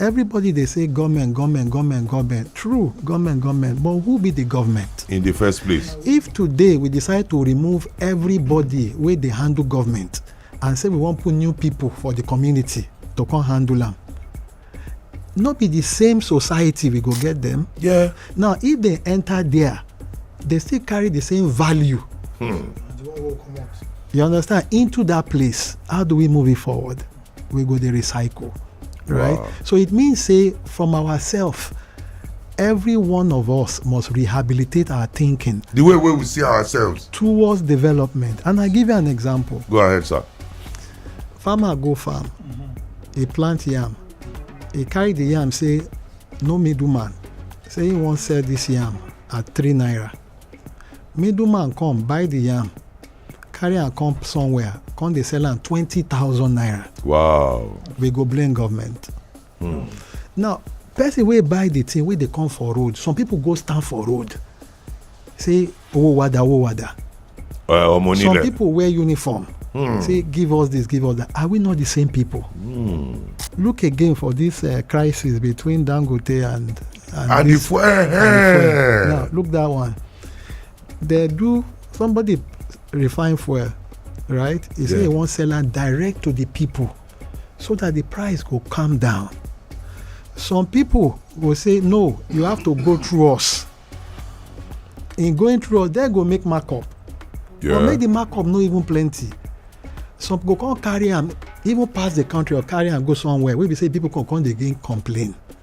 Everybody dey say goment goment goment goment, true goment goment but who be di goment? In di first place? If today we decide to remove everybody wey dey handle goment and say we wan put new pipo for di community to come handle am, no be di same society we go get dem? Yeah. Now if dem enta dia, dem still carry di same value. Hmm. You understand? Into dat place, how do we move it forward? we go dey recycle right wow. so it means say from ourselves every one of us must rehabilitate our thinking the way wey we see ourselves towards development and i give you an example go ahead sir farmer go farm mm-hmm. he plant yam he carry the yam say no middleman say he wan sell this yam at three naira middleman come buy the yam carry am come somewhere come dey sell am twenty thousand naira. wow. we go blame government. Hmm. now person wey buy the thing wey dey come for road some people go stand for road say owó wada owó wada. ọmọ onílẹ̀ some people wear uniform. Hmm. say give us this give us that are we not the same people. Hmm. look again for this uh, crisis between dangote and and, and, this, the, and the fuel. now look that one they do somebody refine fuel right he say Yeah. he wan sell am direct to the people so that the price go calm down some people go say no you have to go through us in going through us they go make markup Yeah. or make the markup no even plenty some go come carry am even pass the country or carry am go somewhere wey be say people come come dey gain complain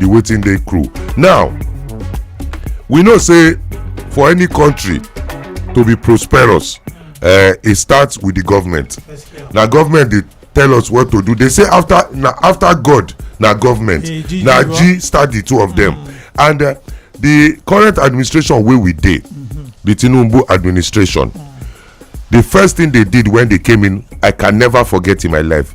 the waiting day crew now we know say for any country to be prosperous uh, it starts with the government na government dey tell us what to do they say after na after god na government Eh, G- na G- g start the two of them and uh, the current administration wey we dey the tinubu administration the first thing they did when they came in i can never forget in my life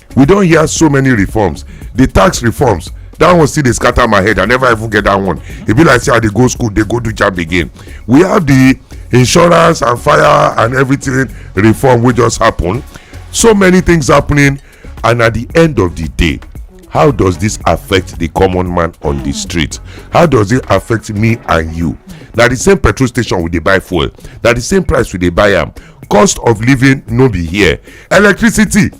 we don hear so many reforms the tax reforms that one still dey scatter my head i never even get that one e be like say i dey go school dey go do jab again we have the insurance and fire and everything reform wey just happen so many things happening and at the end of the day how does this affect the common man on the street how does it affect me and you na the same petrol station we dey buy fuel na the same price we dey buy am cost of living no be here electricity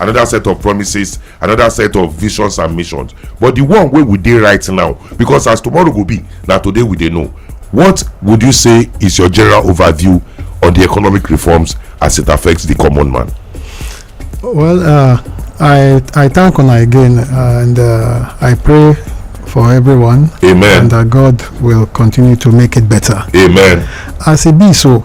another set of promises another set of visions and missions but the one wey we dey right now because as tomorrow go be na today we dey know what would you say is your general overview on the economic reforms as it affects the common man Well, uh, I I thank una again, uh, and uh, I pray for everyone, amen and that God will continue to make it better. amen As it be so,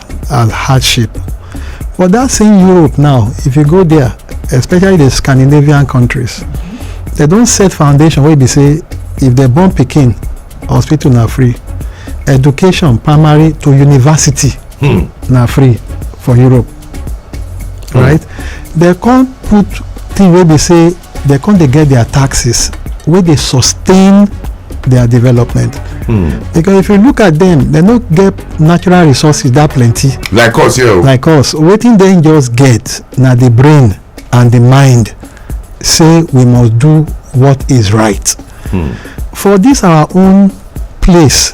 as hardship but that same europe now if you go there especially the scandinavian countries they don set foundation wey be say if dem born pikin hospital na free education primary to university na free for europe right dem come put thing wey be say dem come dey get their taxes wey dey sustain their development. Mm. because if you look at them they no get natural resources that plenty. like us yeah. like us wetin dem just get na the brain and the mind say we must do what is right. Mm. for this our own place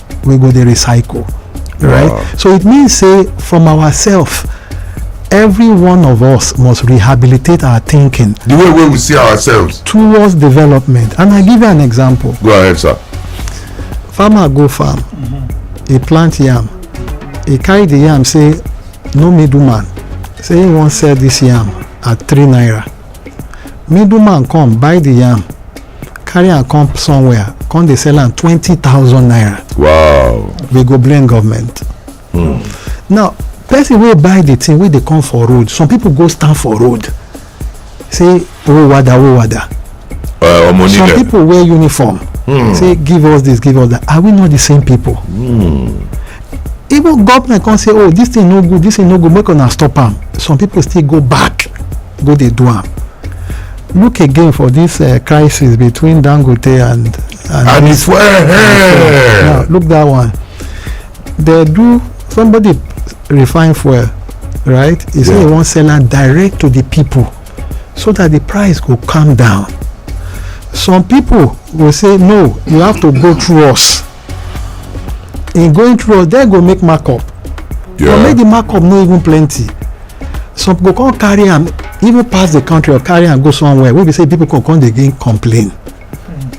we go dey recycle right wow. so it means say from ourselves every one of us must rehabilitate our thinking. the way wey we see ourselves. towards development and i give you an example. go ahead sir. farmer go farm mm -hmm. e plant yam e carry the yam say no middleman say he wan sell this yam at three naira middleman come buy the yam carry am come somewhere come dey sell am twenty thousand naira wow we go blame government hmm. now person wey buy the thing wey dey come for road some people go stand for road say owó wada owó wada uh, some people wear uniform hmm. say give us this give us that are we not the same people hmm. even government come say oh this thing no good this thing no good make una stop am some people still go back go dey do am look again for this uh, crisis between dangote and and, and it's well hey. now look that one they do somebody refine fuel right he yeah. say he wan sell am direct to the people so that the price go calm down some people go say no you have to go through us in going through they go make markup yeah. but make the markup no even plenty some go come carry am even pass the country or carry am go somewhere wey be say people go come dey gain complain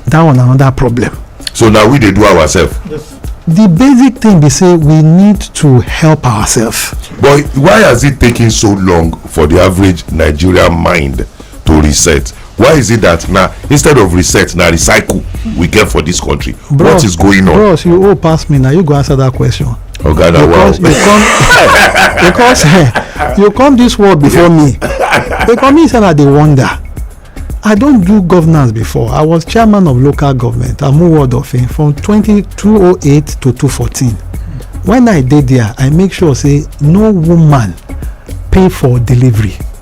that one another problem. so na we dey do ourselves. Yes. the basic thing be say we need to help ourselves. but why has it taken so long for the average nigerian mind to reset why is it that na instead of reset na recycle we get for this country bros, what is going on. bros you old pass me na you go answer that question. oga okay, na wow because you come because eh, you come this world before me because me say na dey wonder i don do governance before i was chairman of local government amu ward of fame from 2208 to 214 when i dey there i make sure say no woman pay for delivery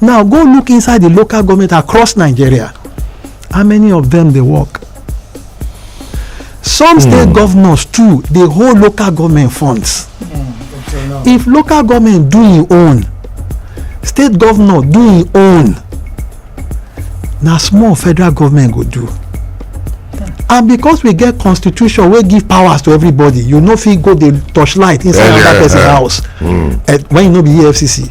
now go look inside the local government across nigeria how many of them dey work some state hmm. governors too dey hold local government funds hmm, if local government do im own state governor do im own na small federal government go do and because we get constitution wey give powers to everybody you no fit go dey torchlight inside another person house hmm. eh, when you no be efcc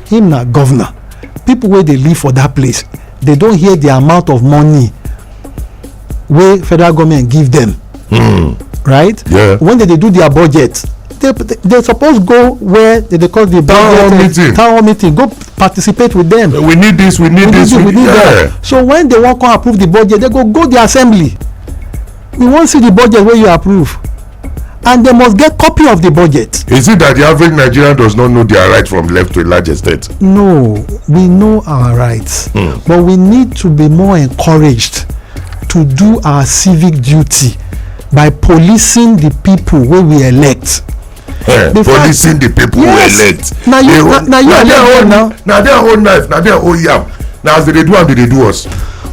him na governor people wey dey live for that place they don hear the amount of money wey federal government give them hmm. right yeah. when they dey do their budget they they suppose go where they dey call the town hall meeting town hall meeting go participate with them we need this we need this we need that so when they wan come approve the budget they go go the assembly we wan see the budget wey you approve and they must get copy of the budget. Is it that the average Nigerian does not know their rights from left to a large extent? No, we know our rights, mm. but we need to be more encouraged to do our civic duty by policing the people wey we elect. Yeah, the policing fact, the people yes, we elect. na you na, na you elect now. na their own knife na their own yam na as they dey do am they dey do us.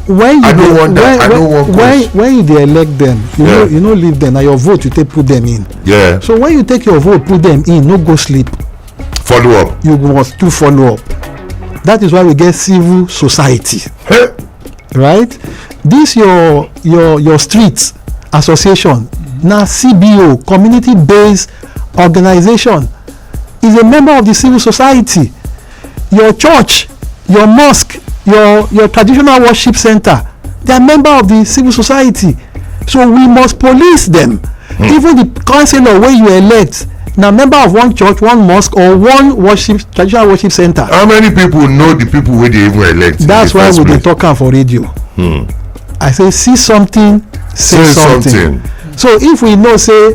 when you dey when when when when you dey elect them you yeah. no you no leave them na your vote you take put them in. Yeah. so when you take your vote put them in no go sleep. follow up. you must do follow up that is why we get civil society. Hey. right this your your your street association mm-hmm. na cbo community based organization is a member of the civil society your church your mosque your your traditional worship center they are member of the civil society so we must police them mm. even the councillor wey you elect na member of one church one mosque or one worship traditional worship center. how many people know the people wey dey even elect. that's why we dey talk am for radio. Hmm. i say see something say, say something. something so if we know say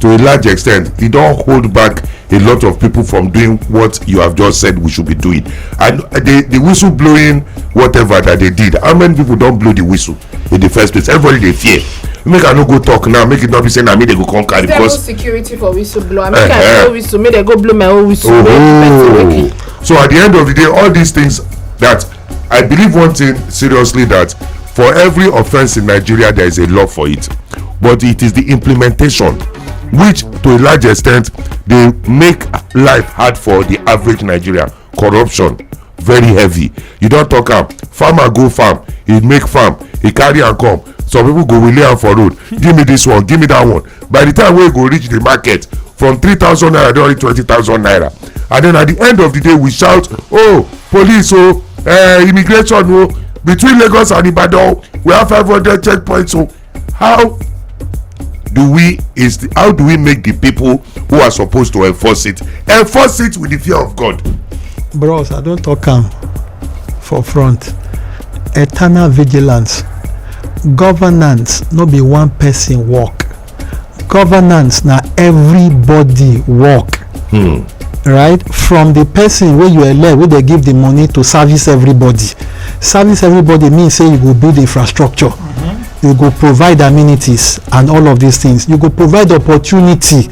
to a large extent e don hold back a lot of people from doing what you have just said we should be doing and the the whistle blowing whatever that they did how many people don blow the whistle in the first place everybody dey fear make i no go talk now make it not be say na me dey go come carry Thermal because security for whistle blower. Make I Eh-heh. blow whistle, make they go blow my own whistle. Make the person make oh it. so at the end of the day all these things that I believe one thing seriously that for every offense in Nigeria there is a law for it, but it is the implementation which to a large extent dey make life hard for the average Nigerian. Corruption very heavy. You don talk am, farmer go farm, he make farm, he carry am come, some people go wele am for road, give me this one, give me that one. by the time wey e go reach the market from three thousand naira don reach twenty thousand naira and then at the end of the day we shout oh police oh uh, immigration oh between lagos and ibadan we have five hundred checkpoints oh how do we is the, how do we make the people who are supposed to enforce it enforce it with the fear of god. bros i don talk am for front eternal vigilance Governance no be one person work, governance na everybody work. Hmm. right from the person wey you elect wey dey give the money to service everybody service everybody mean say you go build infrastructure mm -hmm. you go provide amenities and all of these things you go provide opportunity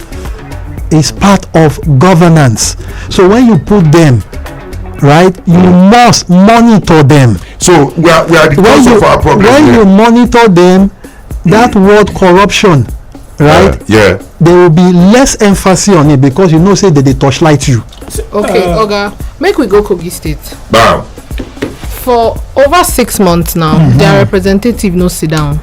is part of governance so when you put them right you must monitor them. so we are we are the cause of our problem. when yeah. you monitor them that mm. word corruption right uh, yeah there will be less emphasis on it because you know say they dey torchlight you. okay uh, oga make we go kogi state. bam. for over six months now mm -hmm. their representative no sit down.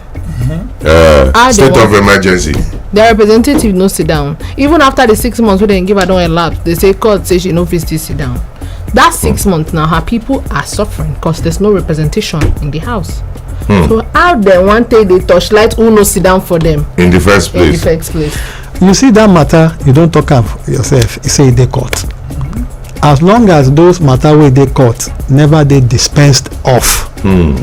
Uh, ah, state of emergency. the representative no sit down even after the six months wey dem give her don elapse they say court say she no fit still sit down that six hmm. months now her people are suffering because there's no representation in the house hmm. so how dem wan take dey torchlight who no sit down for them in the first place in the first place you see that matter you don talk am yourself you say e dey court as long as those matter wey dey court never dey dispensed off hmm.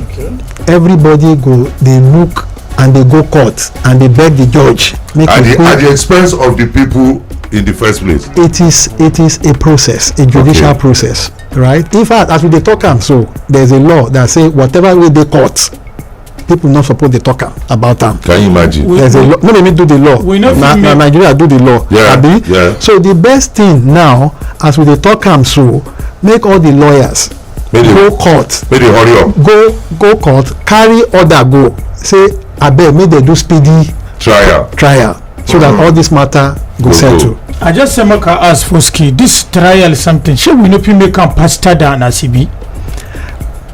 everybody go dey look and dey go court and dey beg the judge make at the at the expense of the people in the first place. it is it is a process a judicial okay. process right in fact as we dey talk am so there is a law that say whatever wey dey court people no suppose dey talk about am. can you imagine. We, there's we, a law no be me do the law we no na na nigeria do the law yeah, abi yeah. so the best thing now as we dey talk am so make all the lawyers Maybe go court Maybe dey hurry up go go court carry order go say abeg make dem do speedy trial trial so that all this matter go settle. i just say make i ask foski this trial something shey we no fit make am faster than as e be.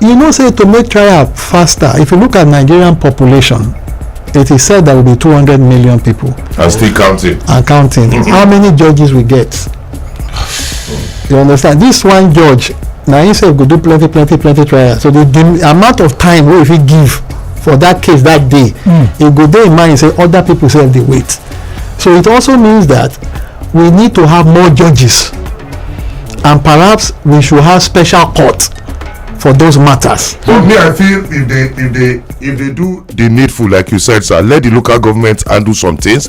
you know say to make trial faster if you look at nigerian population it is said there will be two hundred million people. and still counting. and counting how many judges we get. you understand this one judge na him sef go do plenty plenty plenty trial so the the amount of time wey you fit give for that case that day mm. e go dey in mind say other people sef dey wait so it also means that we need to have more judges and perhaps we should have special court for those matters. but me i feel if they if they if they do the needful like you said sir let the local government handle some things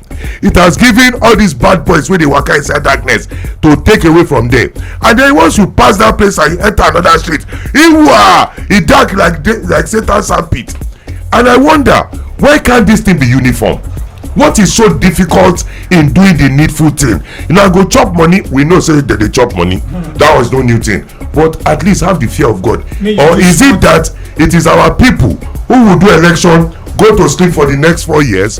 it has given all these bad boys wey dey waka inside darkness to take away from there and then once you pass that place and you enter another street iwa e dark like day like satan sandpit and i wonder why can't this thing be uniform what is so difficult in doing the needful thing you know i go chop money we know say dem dey chop money that was no new thing but at least have the fear of god May you or be is it that it is our people who will do election go to sleep for the next four years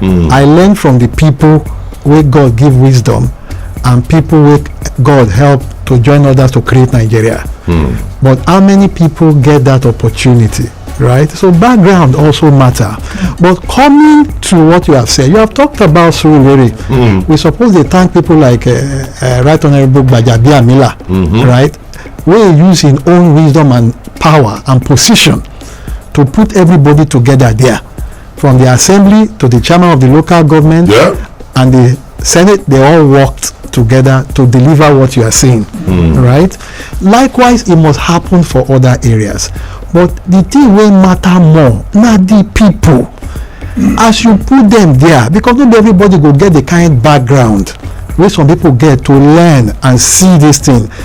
mm. i learn from the people wey god give wisdom and people wey god help to join others to create nigeria mm. but how many people get that opportunity right so background also matter but coming to what you have said you have talked about surulere mm. we suppose dey thank people like uh, uh, right honourable gbajabiamila mm -hmm. right wey use im own wisdom and power and position to put everybody together there from the assembly to the chairman of the local government yeah. and the senate they all worked together to deliver what you are saying mm. right likewise it must happen for other areas but the thing will matter more na the people mm. as you put them there because not everybody go get the kind background wey some people get to learn and see this thing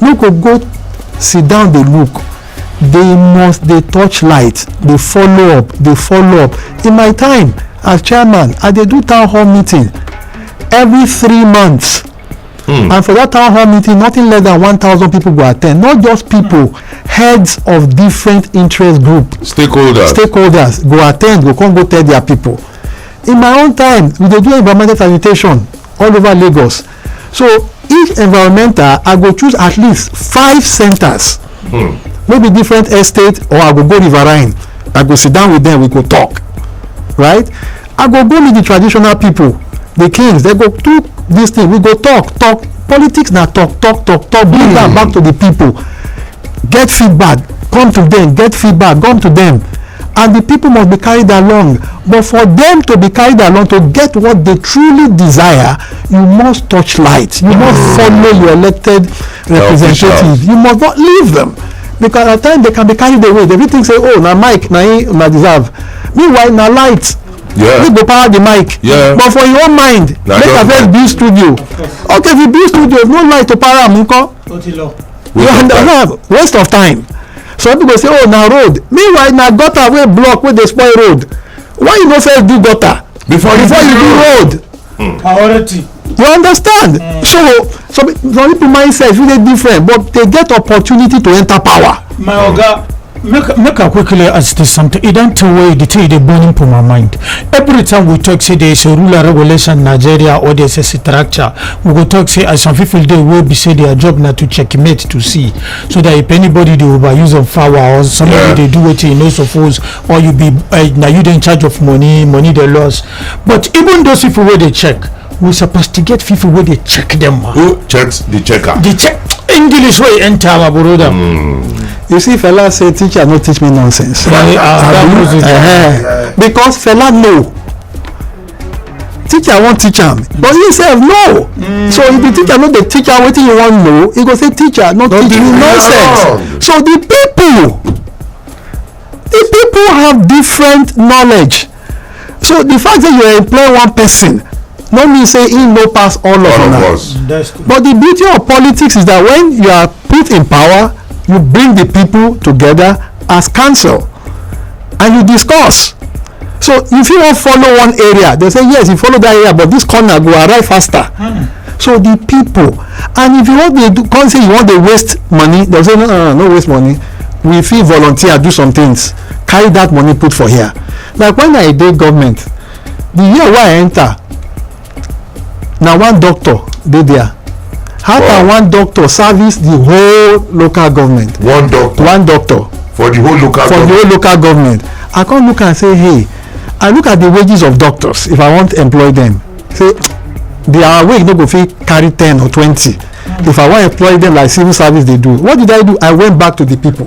no go go sit down dey look they must dey touch light dey follow up dey follow up in my time as chairman i dey do town hall meeting every three months hmm. and for that town hall meeting nothing less than one thousand people go attend not just people heads of different interest group stakeholders stakeholders go attend go come go tell their people in my own time we dey do environmental sanitation all over lagos so each environmental i go choose at least five centers hmm. maybe different estate or i go go riverine i go sit down with them we go talk right i go go meet the traditional people the kings they go do this thing we go talk talk politics na talk talk talk talk bring am hmm. back to the people get feedback come to them get feedback come to them and the people must be carried along but for them to be carried along to get what they truly desire you must touch light you must mm. follow your elected representative you must not leave them because at times they can be carried away they fit think say oh na mic na him una deserve meanwhile na light yeah. you go power the mic yeah. but for your own mind na make i first build studio okay if you build studio no light to power am nko. ó ti lọ. you understand waste of time some people say oh na road meanwhile na gutter wey block wey dey spoil road why you no first do gutter before you before you do road hmm. priority you understand mm. so some some people mindset really different but they get opportunity to enter power. my oga make make i quickly ask this something e don tey wey the thing dey burning for my mind every time we talk say there is a rural regulation in nigeria or there is a structure we go talk say as some people dey wey be say their job na to checkmate to see so that if anybody dey overuse of power or somebody Yeah. dey do wetin e no suppose or you be uh, na you dey in charge of money money dey loss but even those people wey dey check we supposed to get people where they check them ma. who checks the checker. the check english wey enter our brother. Mm. you see fela say teacher no teach me nonsense. Right, uh, uh, uh, because fela know teacher wan teach am but he sef no mm. so if the teacher no dey teach am wetin you wan know he go say teacher no teach you nonsense so the people the people have different knowledge so the fact say you employ one person no mean say he no pass all of una but the beauty of politics is that when you are put in power you bring the people together as council and you discuss so if you wan follow one area they say yes you follow that area but this corner go arrive faster hmm. so the people and if you wan dey do come say you wan dey waste money they say no no no waste money we fit volunteer do some things carry that money put for here like when i dey government the year wey i enter na one doctor dey there how wow. can one doctor service the whole local government one doctor one doctor for the whole local for government. the whole local government i come look am say hey i look at the wages of doctors if i wan employ them say their wage no go fit carry ten or twenty if i wan employ them like civil service dey do what did i do i went back to the people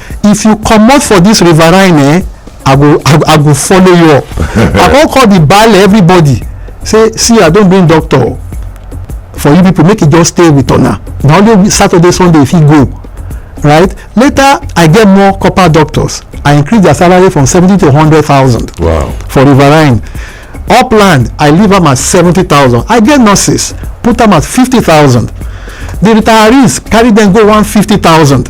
if you comot for this riverine eh i go i go follow you up i come call the baale everybody say see i don bring doctor for you people make e just stay with una na only saturday sunday e fit go right later i get more copper doctors i increase their salary from seventy to hundred thousand wow. for riverine upland i leave am at seventy thousand i get nurses put am at fifty thousand the retirees carry dem go one fifty thousand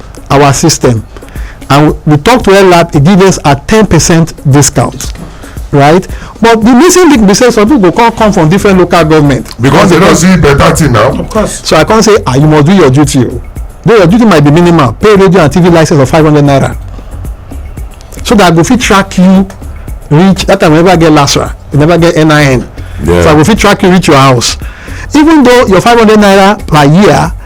our system and we talk to LAP, it gives us a 10% discount right but the missing link be say some people come come from different local government. because they don see better thing now. of course. so i come say ah you must do your duty o oh. though your duty might be minimal pay radio and tv license of five hundred naira so that i go fit track you reach that time we never get lasra we never get nin yeah. so i go fit track you reach your house even though your five hundred naira per year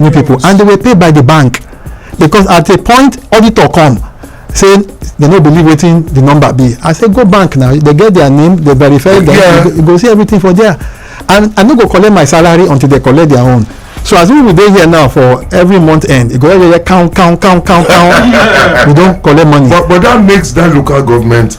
new people and they were paid by the bank because at a point auditor come say they no believe wetin the number be i say go bank now they get their name they verify them yeah. you, go, you go see everything for there and i no go collect my salary until they collect their own so as we dey here now for every month end e go every year count count count count count we don collect money. but but that makes that local government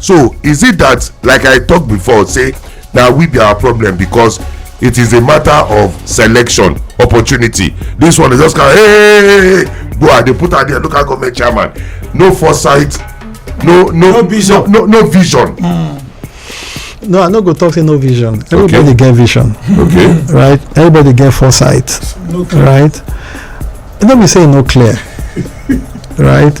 so is it that like i talk before say na we be our problem because it is a matter of selection opportunity this one is just kind of hey, hey, hey, hey go and dey put am there local government chairman no foresight no no No vision. no, no, no vision no i no go talk say no vision everybody get vision okay right everybody get foresight no clear. right e no be say e no clear right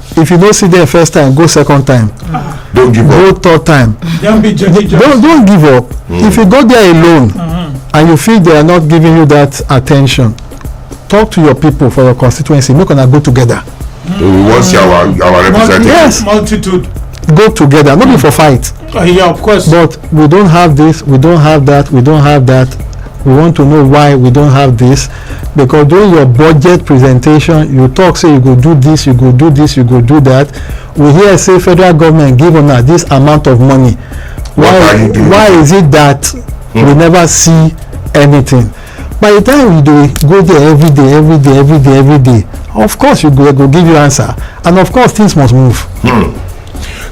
if you no see them first time go second time don't give go up third time Don't be judgy judgy. don't don't give up if you go there alone and you feel they are not giving you that attention talk to your people for your constituency make una go together we wan see our our representative Yes. Multitude. go together no be for fight Uh, yeah, of course. but we don't have this we don't have that we don't have that we want to know why we don't have this because during your budget presentation you talk say you go do this you go do this you go do that we hear say federal government give una this amount of money why why is it that mm. we never see anything by the time you dey go there every day every day every day every day of course you go go give you answer and of course things must move. Mm.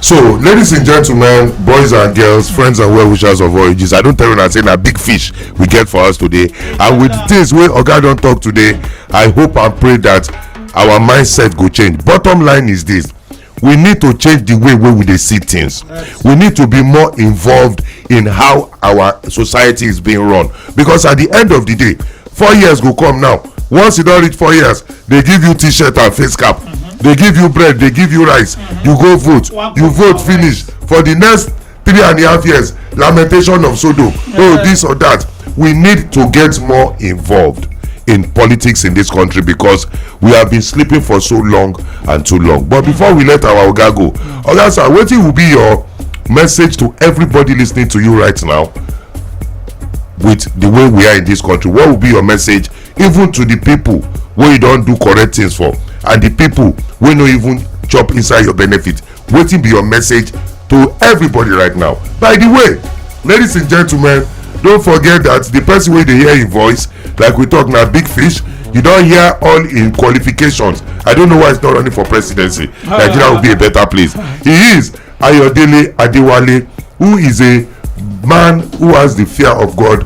so ladies and gentlemen boys and girls friends and well wishers of all ages i don't tell you una say na big fish we get for us today and with the things wey oga don't talk today i hope and pray that our mindset go change bottom line is this we need to change the way wey we dey see things we need to be more involved in how our society is being run because at the end of the day four years go come now once you don reach four years they give you t-shirt and face cap mm-hmm. they give you bread they give you rice mm-hmm. you go vote you vote finish for the next three and a half years lamentation of sodo oh this or that we need to get more involved in politics in this country because we have been sleeping for so long and too long but before we let our oga go oga sir wetin will be your message to everybody listening to you right now with the way we are in this country what will be your message even to the people wey you don do correct things for and the people wey no even chop inside your benefit wetin be your message to everybody right now by the way ladies and gentlemen don't forget that the person wey dey hear im voice like we talk na big fish you don hear all im qualifications i don't know why he's not running for presidency nigeria will be a better place he is ayodele adewale who is a man who has the fear of god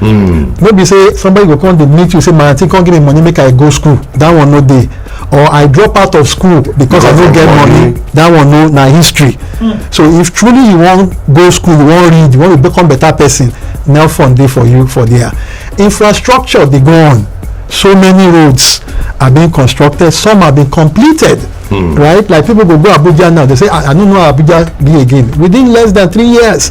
Hmm. no be say somebody go come dey meet you say my aunty come give me money make i go school that one no dey or i drop out of school because i no get money that one no na history hmm. so if truly you wan go school you wan read you wan become better person nel fund dey for you for there infrastructure dey go on so many roads are being constructed some have been completed hmm. right like people go go abuja now they say i no know abuja be again within less than three years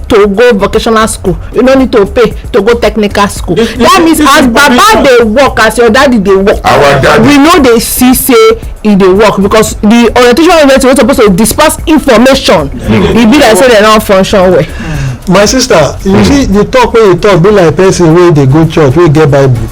to go vocational school you no need to pay to go technical school this, that this, means this as baba dey work as your daddy dey work our daddy we no dey see say e dey work because the orientation university wey suppose to disperse information mm. e be like say dem no function well. my sister you mm. see the talk wey you talk be like person wey dey go church wey get bible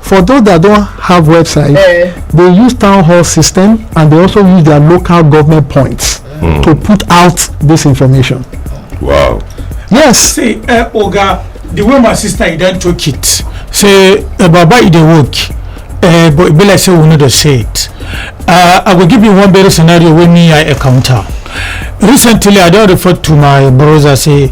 for those that don't have website eh. they use town hall system and they also use their local government points mm. to put out this information wow yes see uh, oga the way my sister e don talk it say uh, baba e dey work uh, but e be like say we no dey say it uh, i go give you one better scenario wey me i encounter recently i don refer to my brother say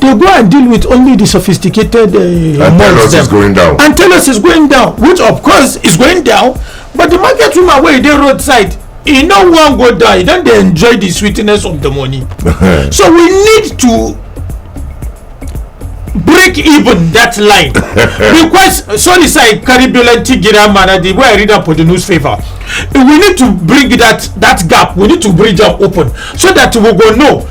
they go and deal with only the sophisticated uh, and tell us it's going down and tell us it's going down which of course is going down but the market woman wey dey roadside e no wan go down e don dey enjoy the sweetness of the money so we need to break even that line because sorry sir i carry dolenti gira mana the way i read am for the newspaper we need to bring that that gap we need to bridge am open so that we go know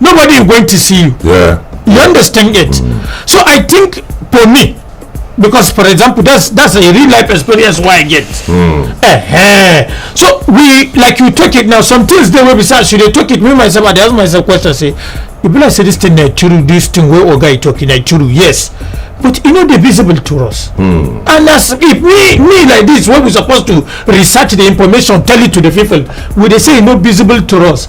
nobody is going to see you yeah you understand it mm. so i think for me because for example that's that's a real life experience why i get mm. uh -huh. so we like you take it now some things they will be sad should they take it me myself i ask myself question say you be like say this thing na true this thing wey oga you talking na true yes but e no dey visible to us mm. and as if me me like this wey we suppose to research the information tell it to the people we dey say e no visible to us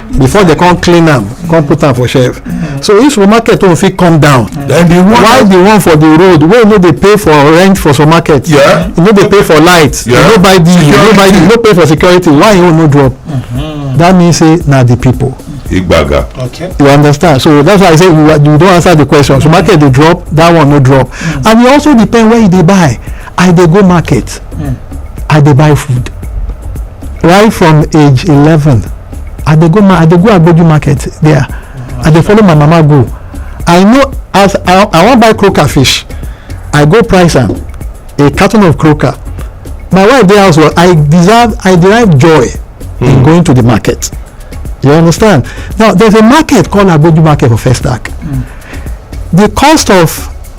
before they come clean am come put am for shelf so if supermarket own fit come down then the one why the one for the road wey no dey pay for rent for supermarket yeah. e no dey pay for light e yeah. no buy diesel e no buy diesel e no pay for security why e own no drop mm-hmm. that mean say na the people igbaga. okay you understand so that's why i say you, you don answer the question so market dey drop that one no drop mm. and e also depend where you dey buy i dey go market hmm. i dey buy food right from age eleven i dey go i dey go agboju market there hmm. i dey follow my mama go i know as i i wan buy croaker fish i go price am a carton of croaker my wife dey house well i deserve i derive joy mm. in hmm. going to the market you understand now there's a market called agboju market for first act mm. the cost of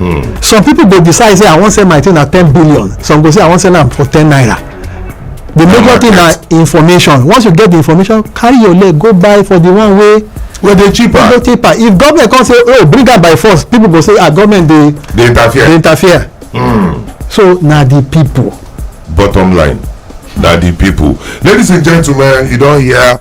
Hmm. some people go decide say i wan sell my thing at ten billion some go say i wan sell am for ten naira the major thing na information once you get the information carry your leg go buy for the one wey wey dey cheaper wey dey cheaper if government come say oh bring am by force people go say ah government dey dey interfere dey interfere mm. so na the people bottom line na the people ladies and gentlemen you don hear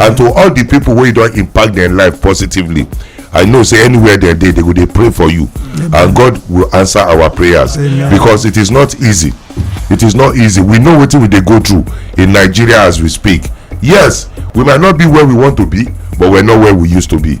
and to all the people wey you don impact their life positively i know say anywhere they dey they go dey pray for you and god will answer our prayers because it is not easy it is not easy we know wetin we dey go through in nigeria as we speak yes we might not be where we want to be but we're not where we used to be